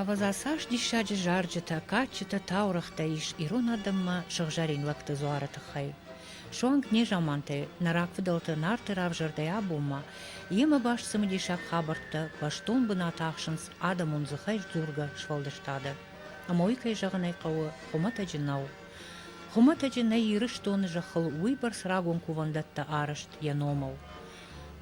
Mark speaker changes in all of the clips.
Speaker 1: Ӕвӕдза, цас диссаджы зарджытӕ, кадджытӕ, таурӕгътӕ ис ирон адӕммӕ сыгъзӕрин лӕгты дзуары тыххӕй. Суанг незамантӕй нӕ рагфыдӕлты Нарты равзӕрдӕй абонмӕ йемӕ баст цымыдисаг хабӕрттӕ бӕстон бынат ахсынц адӕмон дзыхӕй дзургӕ сфӕлдыстады. Ӕмӕ уый, кӕй зӕгъын ӕй хъӕуы, хуымӕтӕджы нӕу. Хуымӕтӕджы нӕй Ирыстоны зӕххыл уыйбӕрц рагон кувӕндӕттӕ арӕзт йӕ номыл.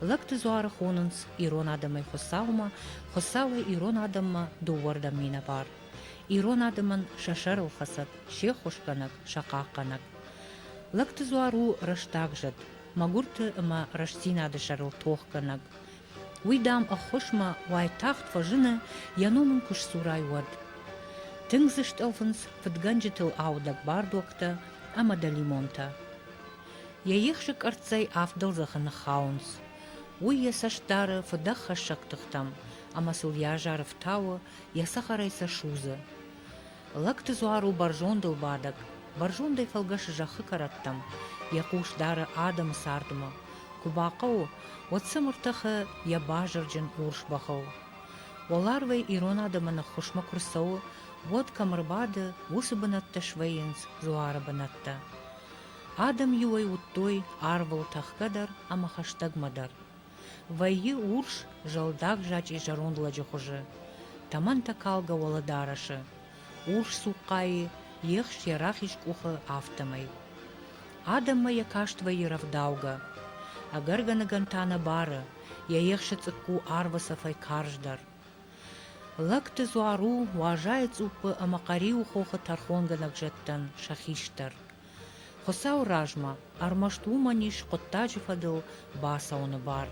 Speaker 1: Лӕгты дзуары хонынц ирон адӕмӕй Хуыцаумӕ, Хуыцауӕй ирон адӕммӕ дыууӕрдӕм минӕвар. Ирон адӕмӕн сӕ сӕрылхӕцӕг, се ххуысгӕнӕг, сӕ хъахъхъӕнӕг. Лӕгты дзуар у рӕстаг зӕд, мӕгуырты ӕмӕ рӕстдзинады сӕрыл тохгӕнӕг. Уый, дам, ӕххуысмӕ уайтагъд фӕзыны, йӕ ном ын куы сдзурай, уӕд. Тынг дзы стъӕлфынц фыдгӕнджытыл аудӕг бардуӕгтӕ ӕмӕ дӕлимонтӕ. Йӕ ехсы къӕрццӕй авддӕл зӕххы ныххауынц. Уый йӕ цӕст дары фыдӕххӕссӕг тыхтӕм, ӕмӕ сыл йӕ азар ӕфтауы, йӕ цӕхӕрӕй сӕ судзы. Лӕгты дзуар у бӕрзондыл бадӕг. Бӕрзондӕй фӕлгӕсы зӕххы кӕрӕттӕм, йӕ хъус дары адӕмы цардмӕ. Куы бахъӕуы, уӕд сӕм ӕртӕхы йӕ базырджын урс бӕхыл. Уӕларвӕй ирон адӕмы ныххуысмӕ куы рцӕуы, уӕд кӕм ӕрбады, уыцы бынӕттӕ свӕййынц дзуары бынӕттӕ. Адӕм-иуӕй уыдтой арвыл тӕхгӕ дӕр ӕмӕ хӕстӕгмӕ дӕр. Вӕййы урс, зӕлдаг зачъе зӕронд лӕджы хуызы, тӕмӕнтӕ калгӕ уӕлӕдарӕсы, урс цухъхъайы ехс йӕ рахиз къухы, афтӕмӕй. Адӕммӕ йӕ каст вӕййы рӕвдаугӕ. Ӕгӕргӕныгӕн та нӕ бары, йӕ ехсы цъыкку арвы цӕфӕй карздӕр. Лӕгты дзуар у Уазайы цъуппы ӕмӕ Хъӕриуы хохы тӕрхонгӕ лӕгзӕдтӕн сӕ хистӕр. Хуыцауы размӕ ӕрмӕст уымӕн ис хъуыддаджы фӕдыл бацӕуыны бар.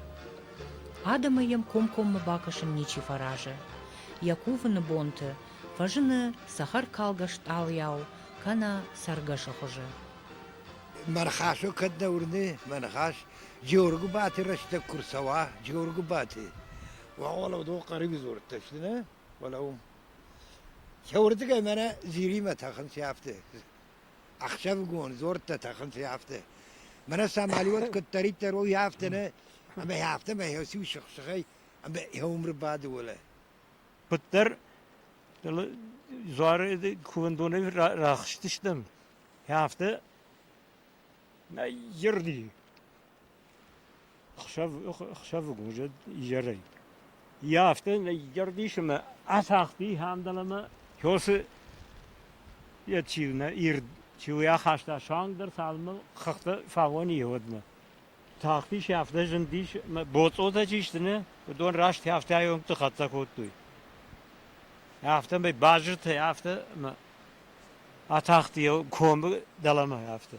Speaker 1: Адӕмӕй йӕм комкоммӕ бакӕсын ничи фӕразы. Йӕ кувыны бонты фӕзыны цӕхӕркалгӕ стъалыйау кӕнӕ цӕргӕсы хуызы. Мӕ
Speaker 2: ныхасыл кӕд нӕ уырны, мӕ ныхас Джоргуыбаты рӕстӕг куы рцӕуа, Джоргуыбаты, Уӕлӕ дон Хъариби дзурдта сты нӕ? Уӕлӕ уым. Сӕ уырдыгӕй мӕнӕ Зиримӕ тӕхын сӕфты. Ӕхсӕвыгон дзордтӕ тӕхын сӕфты. Мӕнӕ сӕ мӕлиуат куыддӕриддӕр у хӕфты нӕ, ӕмӕ хӕфты мӕ хӕсиу сых-сыхӕй ӕмӕ хӕумры бады уӕлӕ. Куыддӕр
Speaker 3: дзуары кувӕндонӕй рахызтыстӕм, хӕфты Ирди Хсӕвыг уызӕг изӕрӕй. Йӕ афтӕ изӕр дисы ӕмӕ ацагъди Хандалӕмӕ, кёсы йӕ чи у нӕ ирд, чи у йӕ ахаста суанг дӕр цалынмӕ хыгъта фаоны йе уӕдмӕ. Тахтис йӕ афтӕ зындис, ӕмӕ боцъотӕ чи сты нӕ, уыдон раст йӕ афтӕ аёмты хӕццӕ кодтой. Афтӕмӕй базыртӕй афтӕ ӕмӕ атахт йӕ комы дӕлӕмӕ афтӕ.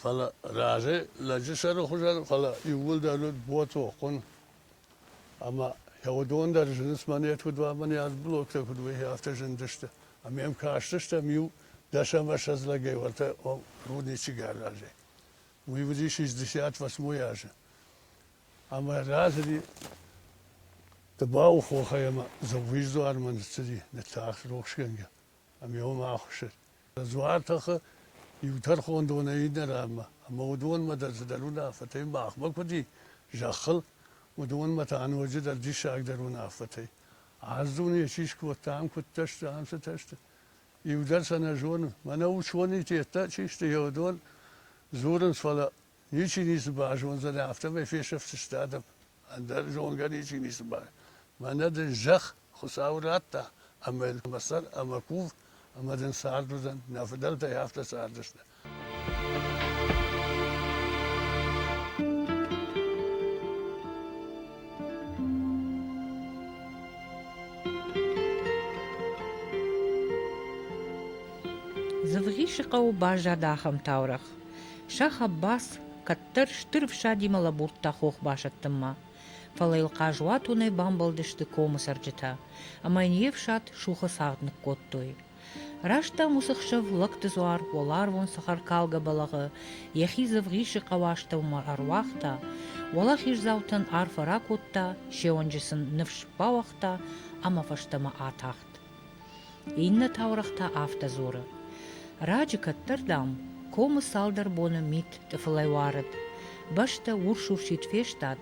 Speaker 4: Фӕлӕ разӕй лӕджы сӕры хуызӕн, фӕлӕ иууылдӕр уыд ботохъуын. Ӕмӕ йӕ уыдон дӕр зынынц монет уыд уӕ монет, блоктӕ куыд уыйы, афтӕ зындысты. Ӕмӕ йӕм кастыстӕм иу дӕсӕмӕсӕдз лӕгӕй уӕртӕ ом рудничек аразӕй. Уый уыдис шестьдесят восьмой азы. Ӕмӕ разыди Тыбауы хохӕй ӕмӕ Дзӕугъиз дуармӕ ныццыди, ныттагъд рухсгӕнгӕ. ӕмӕ уымӕ ахуыссыд. Дзуар тыхы иу тӕрхондонӕй иннӕ ранмӕ, ӕмӕ уыдонмӕ дӕр цыдӕр уынаффӕтӕй махмӕ куыд и зӕххыл, уыдонмӕ та ноджыдӕр диссагдӕр уынаффӕтӕй. Ӕз дуне чи скодта, ам куыдтӕ сты, ам цытӕ сты. Иу дӕр сӕ нӕ зоны. Мӕнӕ уыдони теттӕ чи сты, йӕ уыдон дзурынц, фӕлӕ ничи ницы базондзӕни, афтӕмӕй фесӕфдзысты адӕм. Ӕндӕр зонгӕ ничи ницы бар. Мӕнӕ дын зӕхх Хуыцау радта, ӕмӕ йын мӕ сӕр ӕмӕ кув, ӕмӕ дын цард уыдзӕн. Нӕ фыдӕлтӕй афтӕ цардысты. Дзывгъисы хъӕуы баззад
Speaker 1: ахӕм таурӕгъ. Шах Аббас кӕддӕр стыр ӕфсадимӕ лӕбурдта хох басӕттынмӕ, фӕлӕ йыл хъазуатонӕй бамбӕлдысты комы цӕрджытӕ ӕмӕ йын йе фсад сухы цагъд ныккодтой. Раст дам уыцы хсӕв лӕгты дзуар уӕларвон сахаркалгӕ бӕлӕгъы йӕхи дзывгъисы хъӕуастӕумӕ ӕруагъта, уӕлахиздзаутӕн арфӕ ракодта, се онджы сын ныфс бауагъта ӕмӕ фӕстӕмӕ атахт. Иннӕ таурӕгъ та афтӕ дзуры, Раджы кӕддӕр, дам, комы цалдӕр боны мит тъыфылӕй уарыд, бӕстӕ урс-урсид фестад,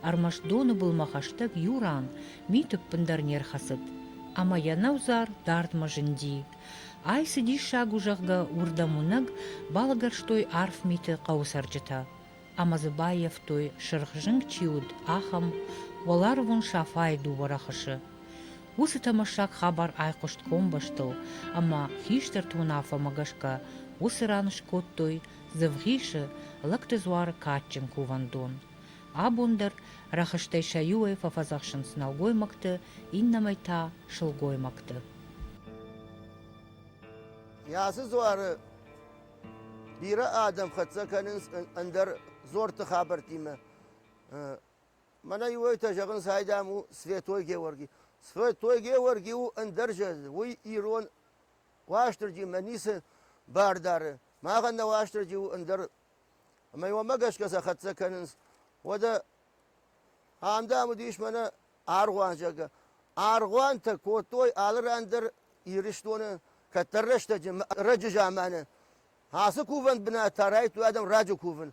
Speaker 1: ӕрмӕст доны былмӕ хӕстӕг иу ран мит ӕппындӕр не рхӕцыд, ӕмӕ йӕ нӕудзар дардмӕ зынди. Ай цы диссаг у, зӕгъгӕ, уырдӕм уынӕг балӕгӕрстой арф миты хъӕуы цӕрджытӕ. ӕмӕ дзы баййӕфтой, сырх зынг чи уыд, ахӕм, уӕларвон Сафайы дыууӕ рӕхысы. Уыцы тӕмӕссаг хабар айхъуыст комбӕстыл, ӕмӕ хистӕрты уынаффӕмӕ гӕсгӕ уыцы ран скодтой Дзывгъисы лӕгты дзуары кадджын кувӕндон. Абон дӕр рӕхыстӕй сӕ иуӕй фӕфӕдзӕхсынц нӕлгоймӕгты, иннӕмӕй та, сылгоймӕгты.
Speaker 5: Йӕ ацы дзуары Бирӕ адӕм хӕццӕ кӕнынц ӕндӕр дзорты хабӕрттимӕ. Мӕнӕ иу этӕ зӕгъынц, айдам у Святой Георгий. Святой Георгий у ӕндӕр зӕд, уый ирон Уастырджимӕ ницы бар дары. Махӕн нӕ Уастырджи у ӕндӕр. Ӕмӕ уымӕ гӕсгӕ сӕ хӕццӕ кӕнынц. Уӕдӕ ам, дам, уыдис мӕнӕ аргъуанзӕгӕ. Аргъуантӕ кодтой алы ран дӕр Ирыстоны, кӕддӕр рӕстӕджы, раджы заманы. Ацы кувӕн бынатӕ райдыдтой адӕм раджы кувын.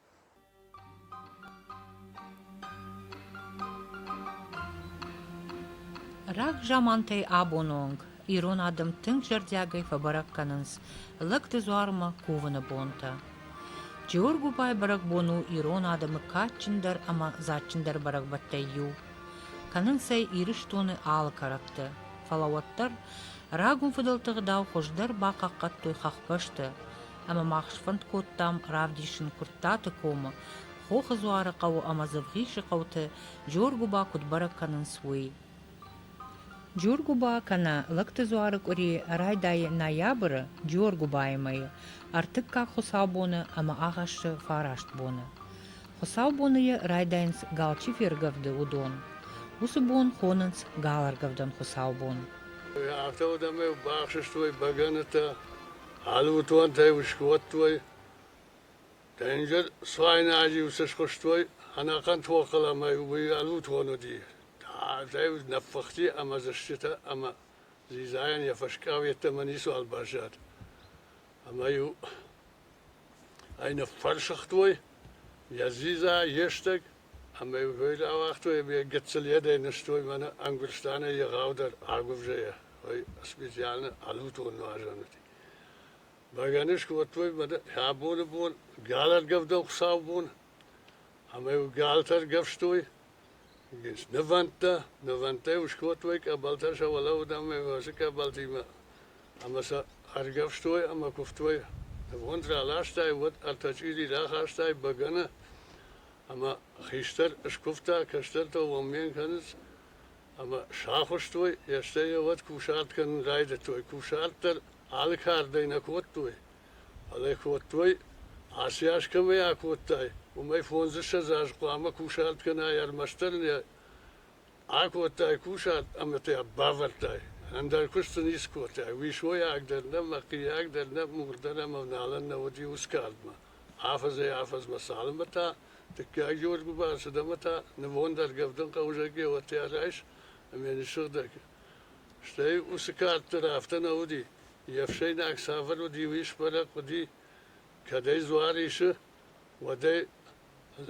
Speaker 1: Раг замантӕй абоны онг ирон адӕм тынг зӕрдиагӕй фӕбӕрӕг кӕнынц лӕгты дзуармӕ кувыны бонтӕ. Джиоргуыбай бӕрӕгбон у ирон адӕмы кадджындӕр ӕмӕ дзадджындӕр бӕрӕгбӕттӕй иу. Кӕнынц ӕй Ирыстоны алы кӕрӕтты, фӕлӕ уӕддӕр рагон фыдӕлты гъдау хуыздӕр бахъахъхъӕдтой хӕхбӕсты, ӕмӕ мах сфӕнд кодтам равдисын Куырттаты комы, Хохы Дзуары хъӕуы ӕмӕ Дзывгъисы хъӕуты Джоргуыба куыд бӕрӕг кӕнынц, уый. Джоргуыба кӕнӕ Лӕгты дзуары къуыри райдайы ноябры Джоргуыбайы мӕйы, ӕртыккаг хуыцаубоны ӕмӕ агъӕссы фараст боны. Хуыцаубоны йӕ райдайынц галчи фергӕвды уыдон. Уыцы бон хонынц галӕргӕвдӕн хуыцаубон. Афтӕ уыд,
Speaker 4: ӕмӕ бахсыстой бӕгӕнытӕ, алы уытонтӕй ус кодтой. Денджыз цуайнаджы ус схуыстой ӕнӕхъӕн тохыл ӕмӕ уый ӕлутон уыди. Тагъдӕй ныппыхти ӕмӕ зыстытӕ ӕмӕ дзидзайӕн йӕ фӕскъау йеддӕмӕ ницуал баззад. Ӕмӕ-иу Ӕй ныффӕрсыгътой йӕ дзидза, йе стӕг ӕмӕ-иу кой рауагътой ӕмӕ йӕ гыццыл йедӕй нызтой мӕнӕ Ӕнгуыстанӕй егъаудӕр агуывзӕйӕ, ой специально ӕнутон нуазӕнуати. Бӕгӕны скодтой мӕнӕ абоны бон галӕргӕвдӕн хуыцаубон ӕмӕ-иу галтӕ ӕргӕвстой. Ес нывӕндтӕ, нывӕндтӕй ус кодтой къӕбӕлтӕ сӕ уӕлӕуодӕмӕ уӕзӕ къӕбӕлтимӕ ӕма сӕ ӕргӕвстой ӕма кувтой. Нивонд раластай, уӕд ӕртӕ чъизи рахастай бӕгӕнӕ ӕма хистӕр скувта, кӕстӕртӕ уоммен кӕнунц ӕма сахузтой, естӕй еуӕд кусарт кӕнун райдӕдтой. Кусарт дӕр али кардӕй нӕ кодтой. Фӕлӕ кодтой, аци аз кӕмӕй акодтай, уымӕй фондзыссӕдз аз хъуамӕ кусарт кӕнай, ӕрмӕстдӕр нӕ акодтай кусарт ӕмӕ та бавӕрдтай. Ӕндӕр куыст сын ницы кодтай. Уисойаг дӕр нӕ, мӕхъийаг дӕр нӕ, мур дӕр ӕмӕ налӕн нӕ уыди ус кардмӕ. Афӕдзӕй-афӕдзмӕ цалынмӕ та дыккаг Георгы бацыд ӕмӕ та нывондӕргӕ ӕвдынкъӕуызӕг еуӕттӕ райс ӕмӕ ныссыгъдӕг. Стӕй уыцы кӕрддӕр афтӕ нӕ уыди. Йе фсӕйнаг цавӕр уыд, иу исбӕрӕг хъуыди, кӕдӕй дзуар исы, уӕдӕй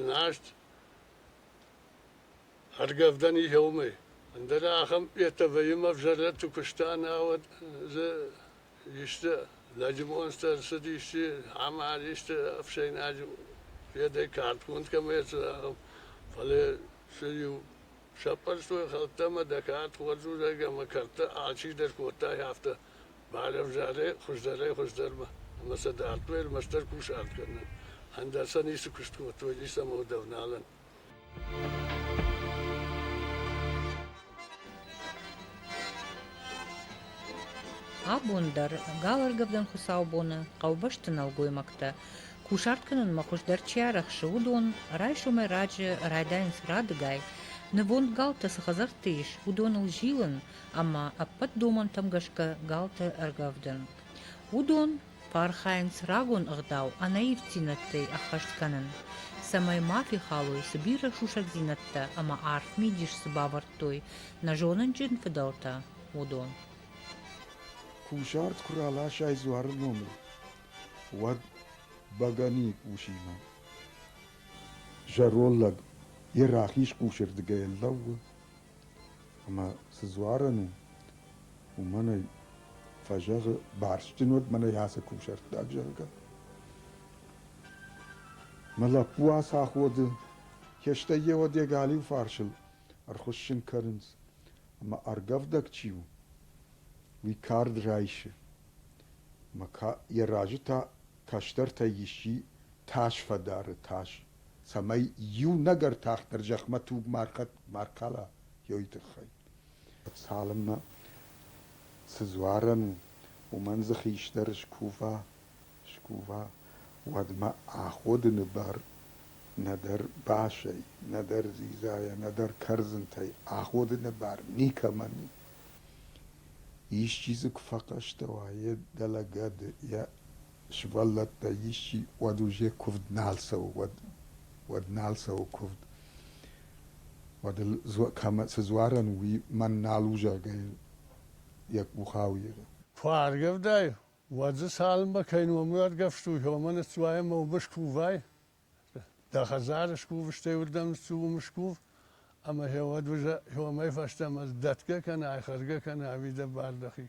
Speaker 4: нозт ӕргӕвдӕн и уымӕй. Ӕндӕра ахӕм йедтӕ вӕййын ӕвзӕрӕтты куыста, науӕд дзы исты лӕджы монцтӕ ӕрцыд, исчи амард, исты ӕфсӕйнаджы федӕй кӕртгонд кӕмӕ ӕрцыд, ахӕм. Фӕлӕ цы иу Сӕппӕрстой хӕлттӕ ӕмӕ дӕ кӕд хорз уыдаид ӕмӕ кӕрдтӕ алчи дӕр кодтай, афтӕ, балӕвзарӕй хуыздӕрӕй-хуыздӕрмӕ ӕмӕ сӕ дардтой ӕрмӕстдӕр кусарт кӕнын, ӕндӕр сӕ ницы куыст кодтой, ницы ӕмӕ удӕвналӕн.
Speaker 1: Абон дӕр галыргӕвдӕн хуыцаубоны хъӕубӕсты нӕлгоймӕгтӕ Кусарт кӕнынмӕ хуыздӕр чи арӕхсы, уыдон, райсомӕй раджы райдайынц радыгай, нывонд галтӕ цы хӕдзӕртты ис, уыдоныл зилын ӕмӕ ӕппӕт домӕнтӕм гӕсгӕ галты ӕргӕвдын. Уыдон архайынц рагон ӕгъдау ӕнӕивддзинӕдтӕй ӕххӕст кӕнын, цӕмӕй ма фехалой, цы бирӕ сусӕгдзинӕдтӕ ӕмӕ арф мидис цы бавӕрдтой нӕ зонынджын фыдӕлтӕ, уыдон. Кусарт
Speaker 6: куы раласай дзуары номыл, уӕд бӕгӕни усимӕ зӕроллӕг йӕ рахиз хъусырдыгӕй ӕрлӕууы ӕмӕ цы дзуарӕн у, уымӕн ӕй фӕзӕгъы, барстджын уӕд мӕнӕй ацы кусӕрттаг, зӕгъгӕ. Мӕ лӕппу ацы аходы, кӕстӕр йе уӕд йӕ галиу фарсыл ӕрхуыссын кӕнынц, ӕмӕ ӕргӕвдӕг чи у, уый кард райсы. Йӕ разы та кӕстӕртӕй исчи тас фӕдары тас, цӕмӕй иунӕг ӕртӕхдӕр зӕхмӕ туг ма ркала, уый тыххӕй. Цалынмӕ цы дзуарӕн у, уымӕн дзы хистӕр скува, скува, уӕдмӕ аходыны бар нӕдӕр басӕй, нӕдӕр дзидзайӕ, нӕдӕр кӕрдзынтӕй аходыны бар никӕмӕн у. Исчи дзы куы фӕхъӕстӕ уа, йе дӕлӕ гӕды йӕ сывӕллӕттӕй исчи, уӕд уже куывд нал цӕуы, уӕд, уӕд нал цӕуы куывд. Уӕд ыл кӕмӕ цы дзуарӕн у, уый мӕн нал у, зӕгъгӕ, йын йӕ къух ауигъы. Куы аргӕвдай,
Speaker 4: уӕд дзы цалынмӕ кӕй номуӕргӕвстой, уымӕн ӕццуайӕ мӕ уымыс кувай? Дӕ хӕдзары скув, стӕй уырдӕм цы уым скув, ӕмӕ гъеуӕд уызӕ уымӕй фӕстӕмӕ дӕтгӕ кӕна, айхӕргӕ кӕна ӕви дӕ бар дӕхи.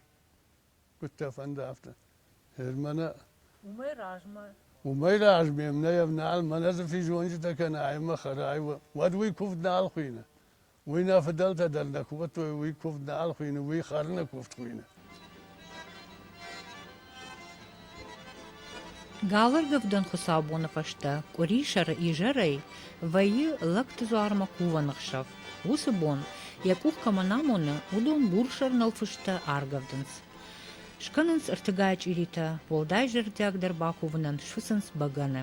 Speaker 4: Куыд дӕ фӕнды, афтӕ. Гъер мӕнӕ. Уымӕй размӕ. Уымӕй раз ме мнӕ йӕ нал, мӕнӕ дзы физонджытӕ кӕнӕ ӕмӕ хӕрай, уӕд уый куывд нал хуыйны. Уый нӕ фыдӕлтӕ дӕр нӕ кувӕдтой, уый куывд нал хуыйны, уый хӕры нӕ куывд хуыйны.
Speaker 1: Галыргӕвдӕн хуыцаубоны фӕстӕ къуырисӕры изӕрӕй вӕййы лӕгтыдзуармӕ кувӕн ӕхсӕв. Уыцы бон, йӕ къух кӕмӕн амоны, уыдон бурсӕр нӕлфысты аргӕвдынц. Скӕнынц ӕртыгай чъиритӕ, уӕлдай зӕрдиагдӕр бакувынӕн сфыцынц бӕгӕны.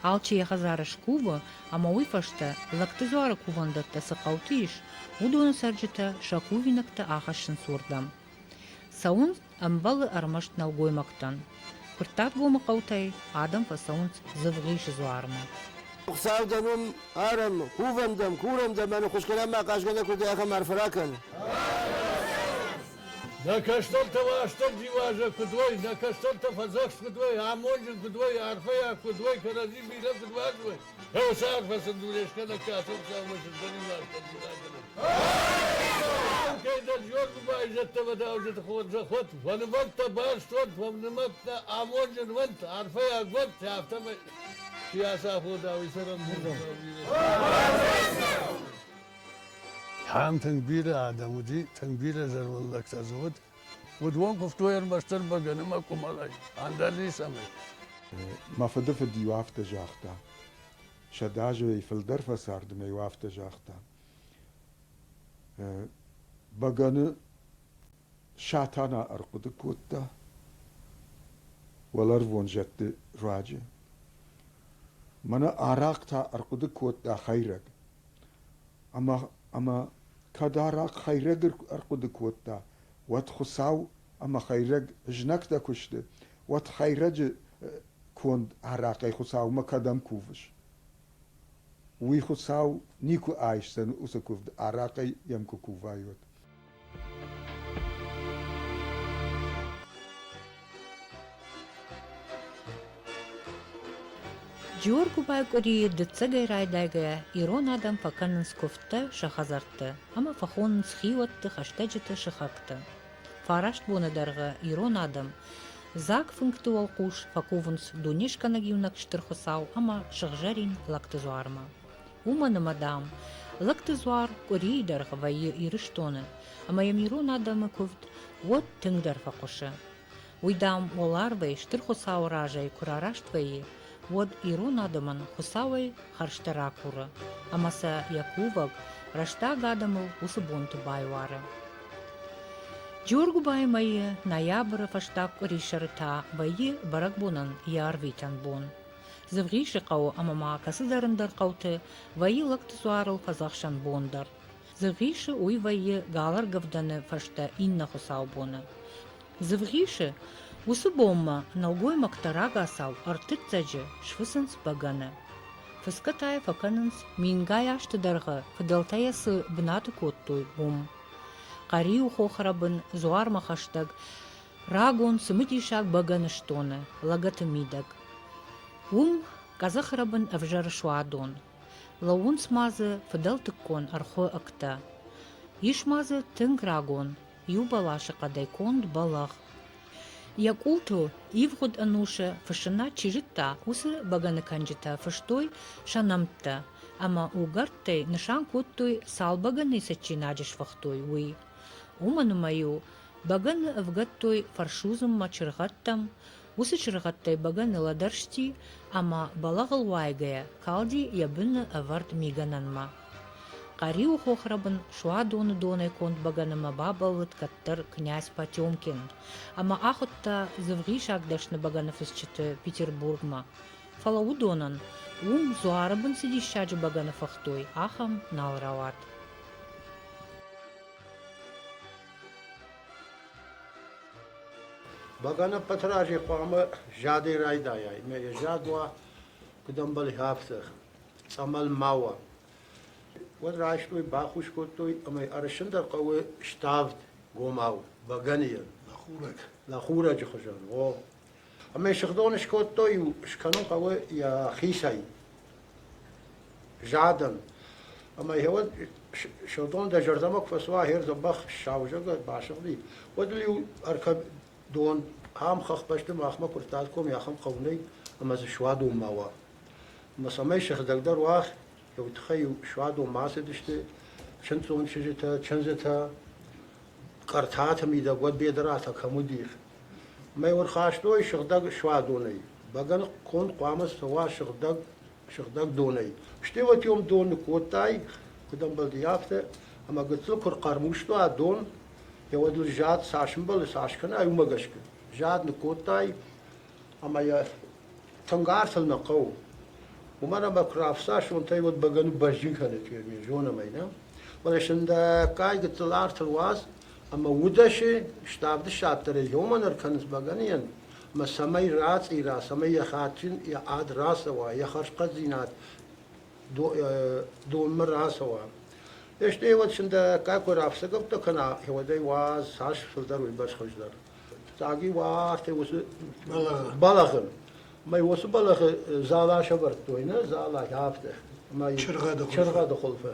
Speaker 1: Алчи йӕ хӕдзары скувы, ӕмӕ уый фӕстӕ, лӕгты дзуары кувӕндӕттӕ цы хъӕуты ис, уыдоны цӕрджытӕ сӕ кувинӕгтӕ ахӕссынц уырдӕм. Цӕуынц ӕмбӕлы ӕрмӕст нӕлгоймӕгтӕн. Куырттатгомы хъӕутӕй адӕм фӕцӕуынц Дзывгъисы дзуармӕ. Хуыцаудӕн
Speaker 5: уым арӕм, кувӕм дӕм, курӕм дӕ, мӕнӕ хуысгӕнӕн ма хъазгӕ нӕ куы уыди, ахӕм арф ракӕн.
Speaker 4: Нӕ кӕстӕртӕ Уастырджи уазӕг куыд уой, нӕ кӕстӕртӕ фӕдзӕхст куыд уой, амонджын куыд уой, арфӕйаг куыд уой, кӕрӕдзи бирӕ куыд уарзой. Еу сӕр фӕсындурӕй скӕнӕг кӕсон кӕумӕ сындӕрин уастырджи Кӕйдӕр зонгу байзӕдтӕ вӕдауджыты хорзӕход, фӕнывӕрдтӕ барстон, фӕнымӕттӕ амонджын уӕнт, арфӕйаг уӕнт, афтӕмӕй. Сиасафодауи сӕрӕн Ам тынг бирӕ адӕм уыди, тынг бирӕ зӕрвыллӕгтӕ дзы уыд. Уыдон куывтой ӕрмӕстдӕр бӕгӕны мӕ къуымӕлӕй, ӕндӕр ницӕмӕй. Мӕ
Speaker 6: фыдыфыд-иу афтӕ загъта. Сӕдӕ азӕй фылдӕр фӕцардын ӕй афтӕ загъта. Бӕгӕны Сатана ӕрхъуыды кодта уӕлӕрвон зӕдты руаджы. Мӕнӕ арахъ та ӕрхъуыды кодта хӕйрӕг. Ӕмӕ, ӕмӕ кӕд арахъ хӕйрӕг ӕрхъуыды кодта, уӕд Хуыцау ӕмӕ хӕйрӕг знӕгтӕ куы сты, уӕд хӕйрӕджы конд арахъӕй Хуыцаумӕ кӕдӕм кувыс? Уый Хуыцау никуы айсдзӕн уыцы куывд, арахъӕй йӕм куы кувайот.
Speaker 1: Джиоргуыбай къуырийы дыццӕгӕй райдайгӕйӕ ирон адӕм фӕкӕнынц куывдтӕ сӕ хӕдзӕртты ӕмӕ фӕхонынц хиуӕтты хӕстӕджыты сыхӕгтӕ. Фараст боны дӕргъы ирон адӕм дзаг фынгты уӕлхъус фӕкувынц дунескӕнӕг Иунӕг Стыр Хуыцау ӕмӕ сыгъзӕрин лӕгты дзуармӕ. Уымӕн ӕмӕ, дам, лӕгты дзуар къуырийы дӕргъы вӕййы Ирыстоны, ӕмӕ йӕм ирон адӕмы куывд уӕд тынгдӕр фӕхъуысы. Уый, дам, уӕларвӕй Стыр Хуыцауы разӕй куы рараст вӕййы, уӕд ирон адӕмӕн Хуыцауӕй хӕрзтӕ ракуры ӕмӕ сӕ йӕ кувӕг, рӕстаг адӕмыл уыцы бонты байуары. Джоргуыбайы мӕйы ноябры фӕстаг къуырисӕры та вӕййы бӕрӕгбонӕн йӕ арвитӕн бон. Дзывгъисы хъӕуы ӕмӕ ма кӕцыдӕр ӕндӕр хъӕуты вӕййы лӕгты дзуарыл фӕдзӕхсӕн бон дӕр. Дзывгъисы уый вӕййы галӕргӕвдӕны фӕстӕ иннӕ хуыцаубоны. Дзывгъисы уыцы бонмӕ нӕлгоймӕгтӕ рагацау ӕртыццӕджы сфыцынц бӕгӕны. Фыцгӕ та йӕ фӕкӕнынц, мингай азты дӕргъы фыдӕлтӕ йӕ цы бынаты кодтой, уым. Хъӕриу хохрӕбын, дзуармӕ хӕстӕг, рагон цымыдисаг бӕгӕны стоны, лӕгӕты мидӕг. Уым къӕдзӕхрӕбын ӕвзӕры суадон. Лӕууынц ма дзы фыдӕлтыккон ӕрхуы ӕгтӕ. Ис ма дзы тынг рагон, иу бӕласы хъӕдӕй конд бӕлӕгъ. Йӕ къултыл ивгъуыд ӕнусы фыссынад чи зыдта, уыцы бӕгӕныкӕнджытӕ фыстой сӕ нӕмттӕ ӕмӕ угӕрдтӕй нысан кодтой, цал бӕгӕныйы цӕджджинаджы сфыхтой, уый. Уымӕн ӕмӕ-иу бӕгӕны ӕвгӕдтой фӕрсудзынмӕ чыргъӕдтӕм, Уыцы чыргъӕдтӕй бӕгӕ нылӕдӕрсти ӕмӕ, бӕлӕгъыл уайгӕйӕ, калди йӕ быны ӕвӕрд мигӕнӕнмӕ. Къӕриуы хохрӕбын суадоны донӕй конд бӕгӕнымӕ бабӕллыд кӕддӕр князь Потемкин ӕмӕ ахуыдта дзывгъисаг дӕсны бӕгӕны фысджыты Петербургмӕ, фӕлӕ уыдонӕн, уым дзуары бын цы диссаджы бӕгӕны фыхтой, ахӕм нал рауад.
Speaker 7: Бӕгӕнӕггаты разе хъуамӕ задӕй райдайай, ӕмӕ йӕ зад уа, куыд ӕмбӕлы, афтӕ, цъӕмӕл ма уа. Уӕд райстой, бахус кодтой, ӕмӕ ӕрысындӕр хъӕуы ставд гомау, бӕгӕныйӕн, лӕхурӕг, лӕхурӕджы хуызӕн. О, Ӕмӕ сыгъдон скодтой-иу, скӕнын хъӕуы йӕхицӕй, задӕн. Ӕмӕ гъеуӕд Сырдон дӕ зӕрдӕмӕ куы фӕцуа, гьер дзӕбӕх сау зӕггӕ басыгъди, уӕд ыл-иу ӕркӕдон ахӕм хӕхбӕсты махмӕ куы ртадком, йӕ ахӕм хъӕу нӕй, ӕмӕ дзы суадон ма уа. Ӕмӕ цӕмӕй сыгъдӕгдӕр уа, уый тыххӕй-иу суадон ма ацыдысты чындздзон чызджытӕ, чындзытӕ, Къӕртаты мидӕг уӕд Бедыратӕ кӕм уыди, Мӕ ӕрхастой сыгъдӕг суадонӕй. Бӕгӕны конд хъуамӕ цӕуа сыгъдӕг, сыгъдӕг донӕй. Стъилытӕ-иу дон нӕ кодтай, куыд ӕмбӕлди, афтӕ. Ӕмӕ гыццыл куы рхъӕрмуста дон, йӕ уӕд ыл зад цас ӕмбӕлы, цас кӕна, уымӕ гӕсгӕ. Зад нӕ кодтай, ӕмӕ йӕ тынг артыл нӕ хъӕуы. Уымӕн ӕмӕ куы рафса сонтӕй, уӕд бӕгӕны бӕзджын кӕны фермер, зонӕм ӕй, нӕ? Фӕлӕ сындӕггай гыццыл артыл уадз, ӕмӕ удӕсе ставд ссадтӕ регионмӕ ӕркӕнынц бӕгӕныйӕн ӕмӕ цӕмӕй рацъира, цӕмӕй йӕ хатджын йӕ ад рацӕуа, йӕ хӕрзхъӕддзинад донмӕ рацӕуа. Естӕ еуӕд синдӕггаг кой рафсӕгӕуттӕ кӕна, еуӕдӕй уа цас фылдӕр уой бӕрц хуыздӕр. Фиццаги уа артӕй уоцы бӕлӕгъи. Мӕй уоцы бӕлӕгъи зӕлӕ сӕвӕрдтой, нӕ зӕлӕ афтӕ. Чыргъӕды хуылфы.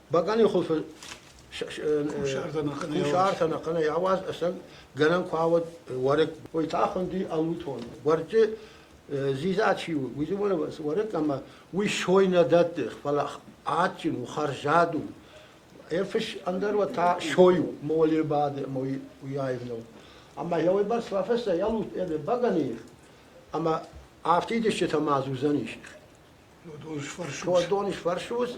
Speaker 7: Бакъани хулфы кусартӕ нӕхъӕнӕй ауаз ӕсӕн гӕнӕн ку ауӕд уӕрӕк. Уой та хуndi алутон. Уӕрчы зиза чи у, уйзы уӕрӕк ӕмӕ уый сойнӕ дӕтты, фӕлӕ адджын у, хӕрзад у. Ефиш ӕндӕр та сой у, моле бады, мой уяйвнов. Ӕмӕ йауй бас фафесӕ ялут эле багани, ӕмӕ афтидысчытӕ ма зуызӕнис. Дон исфӕрсус,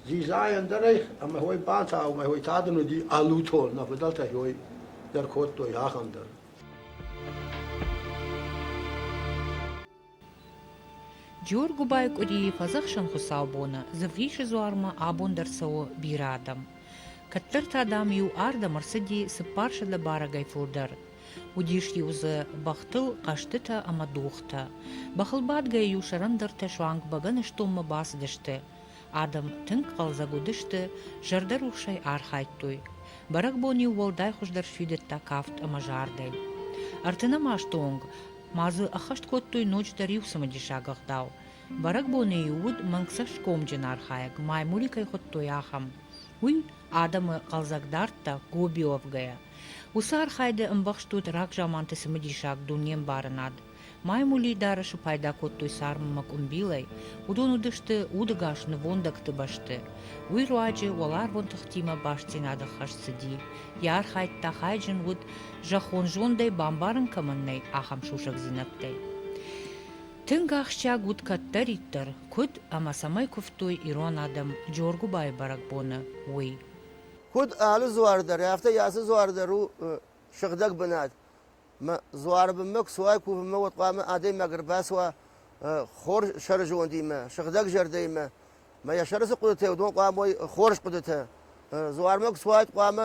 Speaker 7: дзидзайӕн дӕр ӕй, ӕмӕ ой бантаумӕ, ой та дын уыди ӕлутон, нӕ фыдӕлтӕ ой дӕр кодтой ахӕм дӕр.
Speaker 1: Джоргуыбайы къуырийы фӕдзӕхсӕн хуыцаубоны Дзывгъисы дзуармӕ абон дӕр цӕуы бирӕ адӕм. Кӕддӕр та, дам, иу ардӕм ӕрцыди цыппарсӕдӕ барӕгӕй фылдӕр, Уыдис-иу дзы бӕхтыл хъӕзтытӕ ӕмӕ дохтӕ. Бӕхылбадгӕ-иу сӕрӕндӕртӕ суанг бӕгӕныстонмӕ бацыдысты. Адӕм тынг хъӕлдзӕг уыдысты, зӕрдӕрухсӕй архайдтой. Бӕрӕгбон-иу уӕлдай хуыздӕр сфидыдта кафт ӕмӕ зардӕй. Ӕртынӕмасты онг ма дзы ӕххӕст кодтой ноджыдӕр иу цымыдисаг ӕгъдау. Бӕрӕгбоны-иу уыд мӕнгцӕсгомджын архайӕг, маймули кӕй хуыдтой, ахӕм. Уый адӕмы хъӕлдзӕг дӕрдтӕ гобиовгӕйӕ. Уыцы архайды ӕмбӕхст уыд рагзаманты цымыдисаг дунембарынад. Маймулидары-шы пайда кодтой царммӕ къуымбилӕй, уыдон уыдысты удыгас нывондӕгты бӕсты. Уый руаджы уӕларвон тыхтимӕ бастдзинады хӕс цыди. Йӕ архайд та хайджын уыд, зӕххон зондӕй бамбарын кӕмӕн нӕй, ахӕм сусӕгдзинӕдтӕй. Тынг ахсджиаг уыд кӕддӕриддӕр, куыд ӕмӕ цӕмӕй куывтой ирон адӕм Джоргуыбайы бӕрӕгбоны, уый. Куыд
Speaker 5: алы дзуары дӕр, афтӕ ацы дзуары дӕр у сыгъдӕг бынат. Мӕ дзуары бынмӕ куы суай, кувынмӕ, уӕд хъуамӕ адӕймаг ӕрбацуа хорз сӕры зондимӕ, сыгъдӕг зӕрдӕимӕ. Мӕ йӕ сӕры цы хъуыдытӕ уыд, уыдон хъуамӕ уой хорз хъуыдытӕ. Дзуармӕ куы суаид, хъуамӕ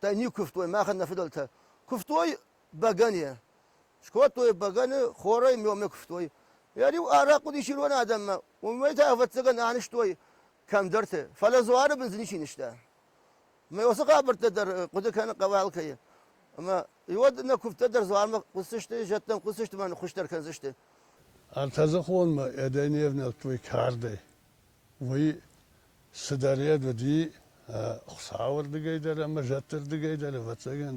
Speaker 5: Та не куывтой, мӕхӕн нӕ фыдӕлтӕ. Куывтой бӕгӕныйӕ. Скодтой бӕгӕны, хорӕй мёмӕ куывтой. Йӕ-иу арахъ уыдис ирон адӕммӕ, уымӕй та, ӕвӕццӕгӕн, анызтой кӕмдӕрты. Фӕлӕ дзуары бын дзы ничи нызта. Ӕмӕ уыцы хабӕрттӕ дӕр хъуыды кӕны Хъӕуӕлкӕйы. Ӕмӕ уӕд нӕ куывдтӕ дӕр дзуармӕ хъуысдзысты, зӕдтӕм хъуысдзысты мӕ ныххуыздӕр кӕндзысты. Ӕртӕдзыхонмӕ
Speaker 4: йӕ дӕ не внӕлдтой кардӕй. уый цыдӕр йӕд уыди Хуыцауы рдыгӕй дӕр ӕмӕ зӕдты рдыгӕй дӕр, ӕвӕццӕгӕн,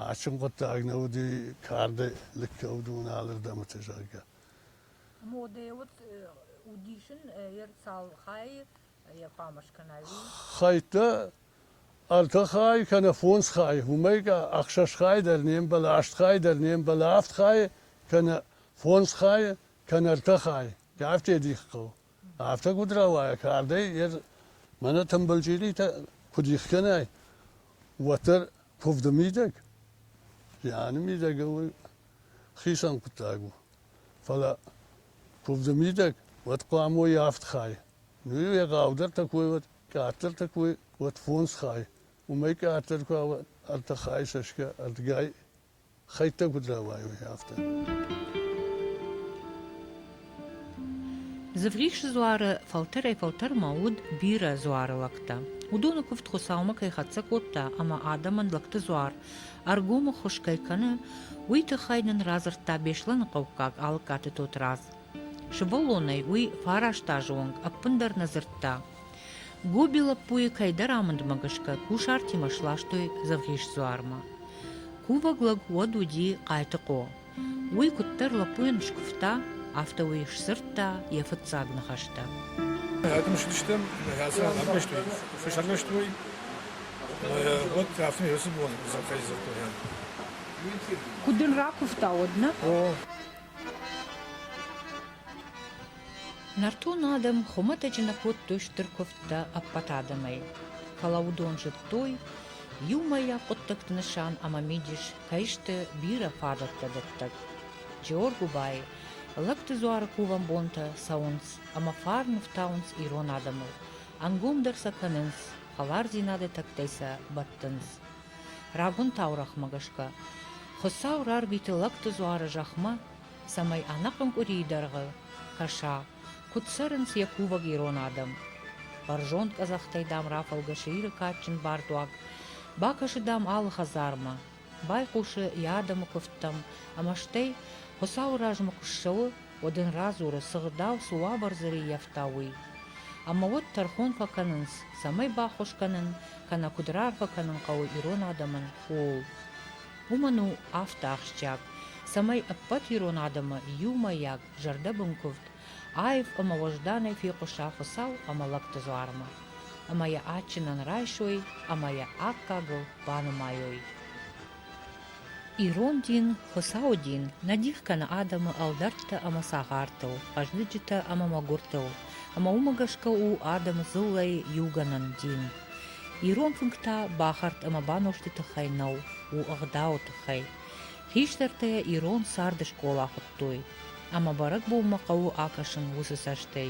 Speaker 4: адджын хъуыддаг нӕ уыди карды лыггӕ уыдоны алырдӕмыты, зӕгъгӕ. Модӕ уыд
Speaker 1: удисын йӕ цал хайы йӕ хъуамӕ
Speaker 4: скӕна, уый? Хӕйттӕ ӕртӕ хайы кӕнӕ фондз хайы, уымӕй ӕхсӕз хайы дӕр не мбӕлы, аст хайы дӕр не мбӕлы, авд хайы кӕнӕ фондз хайы кӕнӕ ӕртӕ хайы. Афтӕ дих хъӕу. Афтӕ куыд рауайа кардӕй, ер мӕнӕ тымбыл чъиритӕ куыд ихгӕнай, уӕддӕр куывды мидӕг, зианы мидӕг у хицӕн хъуыддаг у. Фӕлӕ куывды мидӕг уӕд хъуамӕ уой авд хай. Ну-иу егъаудӕртӕ кой уӕд, къаддӕртӕ кой уӕд фондз хай. Уымӕй къаддӕр куы уа ӕртӕ хай сӕсгӕ ӕрдгӕй, Хӕйттӕ куыд рауайой, афтӕ.
Speaker 1: Дзывгъихсы дзуары фӕлтӕрӕй-фӕлтӕрмӕ уыд бирӕ дзуары лӕгтӕ. Уыдоны куывд Хуыцаумӕ кӕй хӕццӕ кодта ӕмӕ адӕмӕн лӕгты дзуар ӕргомы хуыз кӕй кӕны, уый тыххӕй нын радзырдта Беслӕныхъӕуккаг Алыккаты Тотырадз. Сывӕллонӕй уый фараст-азы онг ӕппындӕр нӕ дзырдта. Гоби лӕппуйы кӕйдӕр амындмӕ гӕсгӕ кусартимӕ сластой Дзӕвгъисдзуармӕ. Кувӕг лӕг уӕд уыди Хъайтыхъо. Уый куыддӕр лӕппуйӕн скуывта, афтӕ уый сдзырдта йӕ фыццаг ныхӕстӕ.
Speaker 8: Ӕдымсыдыстӕм, ацы ран ӕрвӕзтой, фыс ӕрвӕзтой. Уӕд афтӕ фӕцыд, зӕххӕй дзырдтой.
Speaker 1: Куыд дын ракуывта уӕд нӕ? О, Нӕртон адӕм хуымӕтӕджы нӕ кодтой стыр куывдтӕ ӕппӕт адӕмӕй, фӕлӕ уыдон зыдтой, иумӕйаг хъуыддӕгты нысан ӕмӕ мидис кӕй сты бирӕ фадӕттӕ дӕттӕг. Джоргуыбайы лӕгты дзуары кувӕн бонтӕ цӕуынц ӕмӕ фарн ӕфтауынц ирон адӕмыл, ӕнгомдӕр сӕ кӕнынц, хӕлардзинады тӕгтӕй сӕ бӕттынц. Рагон таурӕгъмӕ гӕсгӕ, Хуыцау рарвиты лӕгты дзуары зӕхмӕ, цӕмӕй ӕнӕхъӕн къуырийы дӕргъы кӕса, куыд цӕрынц йӕ кувӕг ирон адӕм. Бӕрзонд къӕдзӕхтӕй, дам, рафӕлгӕсы Иры кадджын бардуаг, бакӕсы, дам, алы хӕдзармӕ, байхъусы йӕ адӕмы куывдтӕм ӕмӕ стӕй Хуыцауы размӕ куы ссӕуы, уӕд ын радзуры, цы гъдау, цы уавӕр дзы рыййӕфта, уый. Ӕмӕ уӕд тӕрхон фӕкӕнынц, цӕмӕй баххуыс кӕнын, кӕнӕ куыд раарфӕ кӕнын хъӕуы ирон адӕмӕн, ууыл. Уымӕн у афтӕ ахсджиаг, цӕмӕй ӕппӕт ирон адӕмы иумӕйаг зӕрдӕбын куывд аив ӕмӕ уӕзданӕй фехъуса Хуыцау ӕмӕ лӕгты дзуармӕ, ӕмӕ йӕ адджынӕн райсой ӕмӕ йӕ аккагыл банымайой. Ирон дин, Хуыцауы дин, нӕ дих кӕны адӕмы ӕлдӕрттӕ ӕмӕ цагъартыл, хъӕздыджытӕ ӕмӕ мӕгуыртыл, ӕмӕ уымӕ гӕсгӕ у адӕмы дзыллӕйы иугӕнӕн дин. Ирон фынг та бахӕрд ӕмӕ банозты тыххӕй нӕу, у ӕгъдауы тыххӕй. Хистӕртӕ йӕ ирон царды скъола хуыдтой, ӕмӕ бӕрӕгбонмӕ хъӕуы акӕсын уыцы цӕстӕй,